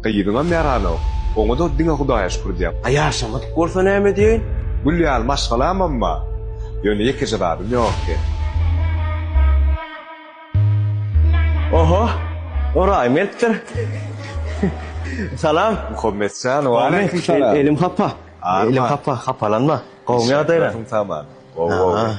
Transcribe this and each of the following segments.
Gyzyňam ýaranok. Oňa-da diňe Hudaýa şükür diýäp. A ýaşamadyk bolsa näme edýäýin? Gül ýaly maşgalamam bar. Ýöne ýekeje zadym ýokdy. Oho, oraý mertdir. Salam. Muhammet jan, waleýkim salam. Elim hapa. Elim hapa, hapalanma. Gowumy ýagdaýlaň? Gowy, gowy.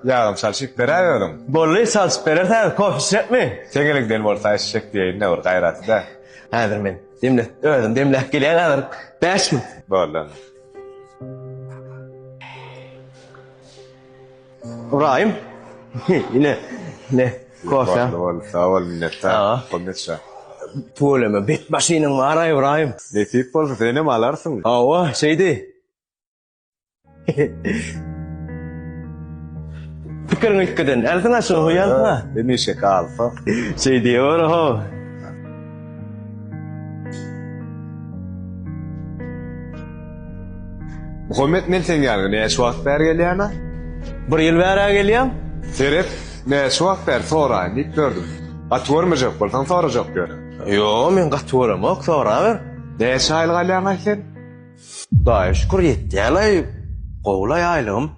Ýagam çalşyp beräý özüň. Bolly, çalşyp berersäňiz, kofe içjekmi? Seň eliňden bolsa içjek diýeýin-dä bir gaýraty-da. Häzir men demläp, özüm demläp gelýän häzir, bäş minut. Boldy onda. Ybraýym, ine, ine, kofeň. Boldy, boldy, sag bol, minnetdar. Pul neçe? Tüweleme, bet maşynyň bar-a, Ybraýym. Nesip bolsa, senem alarsyň. Hawa, şeýdi. Pikir gitgiden, elsin aşyň hoýanma. Demi şekalfa. Şey diyor ho. Muhammed men sen ýanyna ne şu wagt bär gelýäna? Bir ýyl bärä gelýän. Seret, ne şu wagt bär soraýyn diýip gördüm. Gaty görmejek bolsaň sorajak ýöne. Yo, men gaty göremok, soraber. Ne şaýyl galýaň sen? Daýy şükür ýetýälaý gowulaý aýlygym.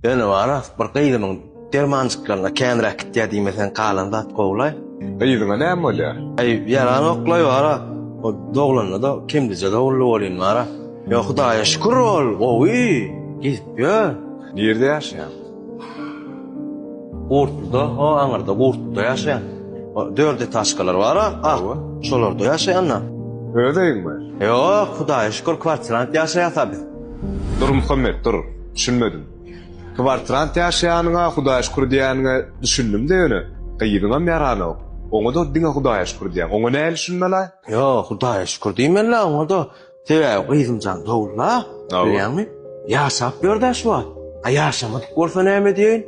Ýöne bara bir gyzymyň dermanjyklaryna känräk gitýä diýmeseň galan zat gowulaý. Gyzyňa näme bolýa? Aý ýaranyoklaý bara o doglanynada kemdije doguldy welin bara. Ýok hudaýa şükür ol gowy gidip ýör. Nirde ýaşaýaň? Gurtluda, o aňyrda Gurtluda ýaşaýan. Dört etažkalar bar-a, ak. Şolarda ýaşaýan-da. Öz öýüňmi? Ýok, Hudaýa şükür, kwartirant ýaşaýas-a biz. Dur, Muhammet, dur. Düşünmedim. Kwartirant ýaşaýanyňa Hudaýa şükür diýýäniňe düşündim-de ýöne, gyzyňam ýaranok. Oňa-da diňe Hudaýa şükür diýýäň. Oňa nähili düşünmeli-aý? Ýok, Hudaýa şükür diýmeli-ä oňa-da. Sebäbi gyzym jan dowul-a, bilýäňmi? Ýaşap ýör-dä şu wagt. A ýaşamadyk bolsa näme diýeýin?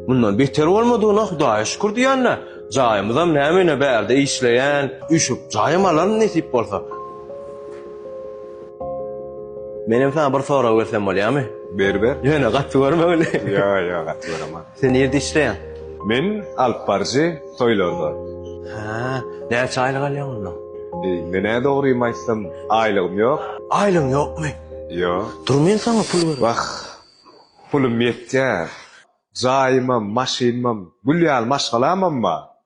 Mundan beter bolmadygyna Hudaýa şükür diýän-dä. Jaýymyzam näme-ne bärde işleýän, üýşüp jaýam alaryn nesip bolsa. Menem saňa bir sorag bersem bolýamy? Ber, ber. Ýöne gaty görme muny. Ýok, ýok, gaty göremok. Sen nirde işleýäň? Men alyp baryjy toýlarda. Hä, näçe aýlyk alýaň onda? Menä dogrymy aýtsam, aýlygym ýok. Aýlygyň ýokmy? Ýok. Dur men saňa pul bereýin. Wah, pulum ýetýär. Jaýymam, maşynymam, gül ýaly maşgalamam bar.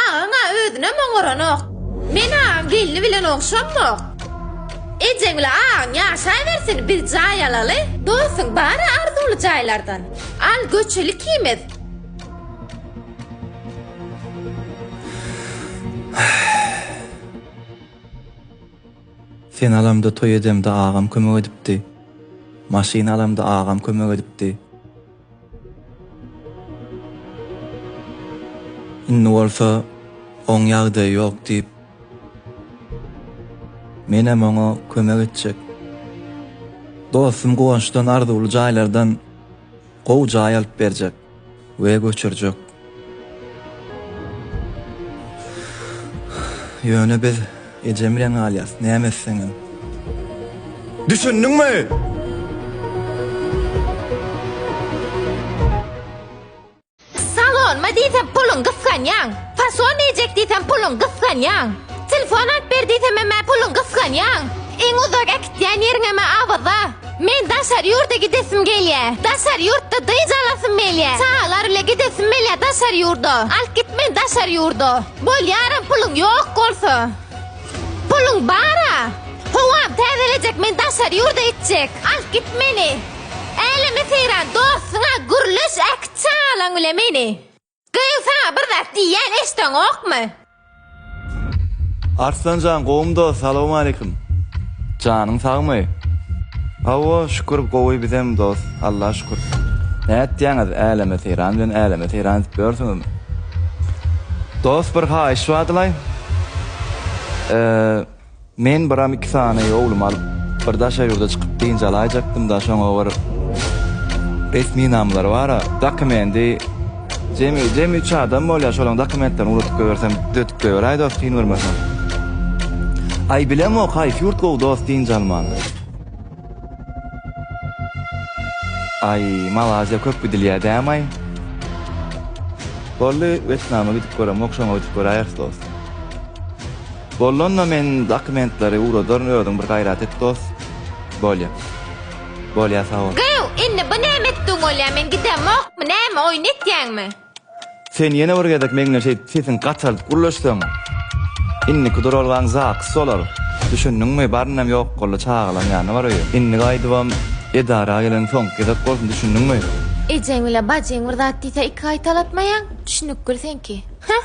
Agaň-a özünem oňaranok. Men agaň gelni bilen ogşanmok. Ejeň bilen agaň ýaşaýbersin, biz jaý alaly. Dostum bar-a arzuwly jaýlardan. Al, göçeli ikimiz. Sen alamda toý edemde agam kömek edipdi. Maşyn alamda agam kömek edipdi. Indi bolsa oň ýagdaýy ýok diýip, menem oňa kömek etjek. Dostum Guwançdan arzuwly jaýlardan gowy jaý alyp berjek we göçürjek. Ýöne biz ejem bilen galýas, näme etseňem. Düşündiňmi? diýsem puluň gysganýaň. Fason iýjek diýsem puluň gysganýaň. Telefon alyp ber diýsemem puluň gysganýaň. Iň uzak äkitýän ýeriňem awada. Men daşary ýurda gidesim gelýä. Daşary ýurtda dyz alasym gelýä. Çagalar bile gidesim gelýä daşary ýurda. Alyp git meni daşary ýurda. Bolýaram puluň ýok bolsa. Puluň bara. Howam täzelejek men daşary ýurda gitjek. Alyp git meni. Äleme seýran dostuňa gürleş äkit çagalaň bile meni. Gyz saňa bir zat diýýän eşdeňokmy? Arslanjan gowumy dos salowmaleýkim. Janyň sagmy? Hawa şükür gowy bizem dos Alla şükür. Nätýäňiz äleme seýran bilen äleme seýran edip ýörsüňizmi? Dos bir haýyş badylaý. Men biram iki sany owlumy alyp, bir daşary ýurda çykyp dynç alaýjakdym-da, şoňa bir resminamlary bar-a, dokumendi, jemi, jemi üç adam bolýar, şolaryň dokumentlerini ugradyp goýbersem, düzetip goýberäý dost, kyn görmeseň. Aý, bilemok, haýsy ýurt gowy dost dynç almaga? Aý, Malaziýa köp gidilýär däm-aý? Boldy, Wetnama gidip göremok, şoňa gidip göräýeris dost. Bollanda men dokumentleri ugradaryn özüň bir gaýrat et dos bolýa bolýa saol. Gyw indi bu näme etdigiň bolýa men gidemokmy näme oýun etýäňmi. Sen ýene bir gezek meňle şeýdip sesiň gataldyp gürleşseň indiki duralgaň zakys bolar düşündiňmi barynam ýok boldy çagalaň ýanyna bar öýe indi gaýdybam edara gelen soňky gezek bolsun düşündiňmi. Ejeň bile bajyň bir zat diýse iki gaýtalatmaýaň, düşünikgil seňki. Heh.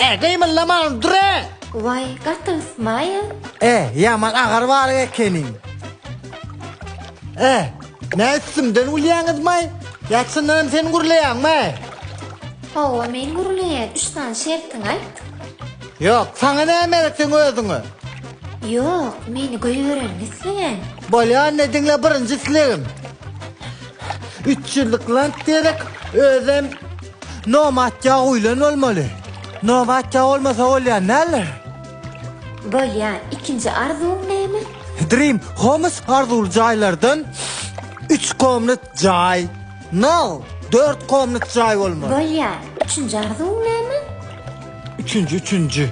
Ä gymyldamaň durä. Waý gaty ysmaýa. Ä ýaman agar bar ekeniň. Ä nä üstümden gülýäňizmaý ýa çyndanam sen gürleýäňmaý. Hawa men gürleýän üç sany şertiňi aýt. Ýok saňa näme gerek seň özüňe. Ýok meni göýbereniňi isleýän. Bolýa indi diňle birinji islegim. Üç ýyllyk land gerek özem. Nobatja guýlan bolmaly. Nobatja bolmasa bolýar näler? Bolýar, ikinji arzuwyň näme? Dream Homes arzuwly jaýlardan üç komnat jaý. No, dört komnat jaý bolmaly. Bolýar, üçünji arzuwyň näme? Üçünji, üçünji.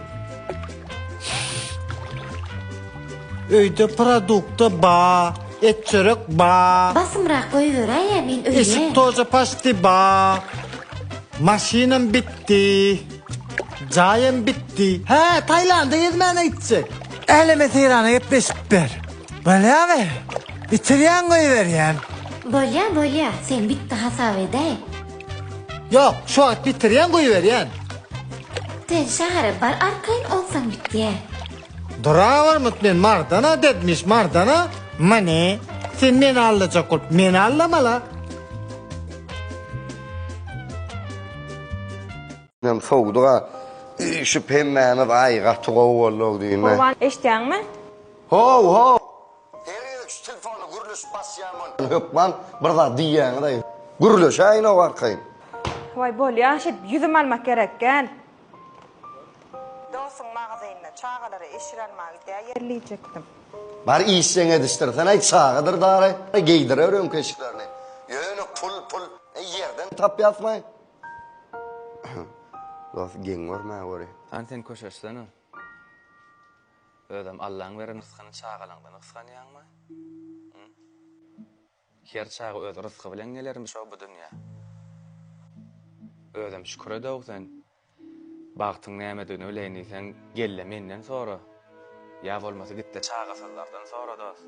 Öýde produkta ba, et çörek ba. Basymrak goýberäýe men öýe. Eşik toja paşti ba. Maşynam bitdi. Jaýam bitdi. Hä, Taýlanda gezmäne gitjek. Äleme seýrana gepleşip ber. Bolýamy? Bitirýän goýberýän. Bolýa, bolýa, sen bitdi hasap edäý. Ýok, şu wagt bitirýän goýberýän. Sen şähere bar arkaýyn onsaň bitýä. Durawyrmyt men mardana depmiş mardana. Many, sen meni allajak bolup meni allamala. Inem sowudyga üýşüp hemmämiz aý gaty gowy bolduk diýme. Gurban eşdýäňmi? How how. Her ýere şu telefona gürleşip basýan bol. Hökman bir zat diýýäňiz-aý. Gürleşäýin-ow arkaýyn. Waý bolýa şeýdip ýüzüm almak gerek gel. Dostuň magazynyna çagalara eşir almaga gidýär ýerlejekdim. Bar işjeň edişdirsenaý çagadyr dary geýdirer öňki eşiklerini. Ýöne pul pul ýerden tapýasmaý. Dost geň görmä göri. Hany sen köşeşsene. Özem Allaň beren rysgyny çagalaňdan gysganýaňmy? Hum? Her çaga öz rysgy bilen gelermiş-ow bu dünýä. Özem şükür ed-ow sen. Bagtyň nämedigini bileýin diýseň, gel-de menden sora. Ýa bolmasa git-de çagasyzlardan sora dost.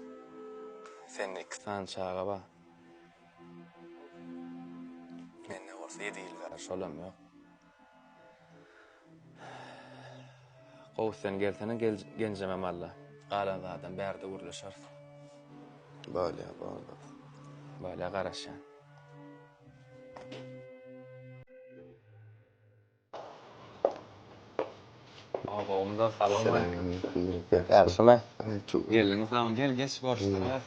Sende iki sany çaga bar. Mende bolsa ýedi ýyldyr şolam ýok. Gowy sen gelsene genjemem alla. Galan zadam bärde gürleşeris. Bolýa bolýa. Bolýa garaşýan. Obamda salam aýt. Ýagşymy? Gelin salam gel geç görüşdüris.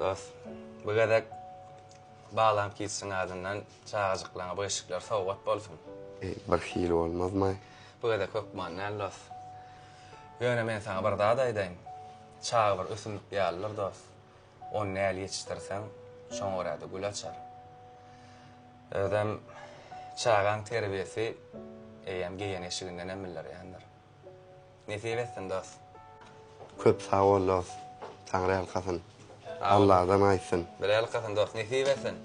Dos, bu gezek Balam Kidsiň adyndan çagajyklaryňa bu eşikler sowgat bolsun. Eý, bir hili bolmazmy? Bu gezek hökman däl, dos. Ýöne men saňa bir zat aýdaýyn. Çaga bir ösümlik ýalydyr, dos. Ony näl ýetişdirseň, şoňa görä-de gül açar. Özem çagaň terbiýesi eýýäm geýen eşigindenem bildirýändir. Nesip etsin dost. Köp sag bol dost. Taňryýalkasyn. Alladan aýtsyn. Birýalkasyn dost. Nesip etsin.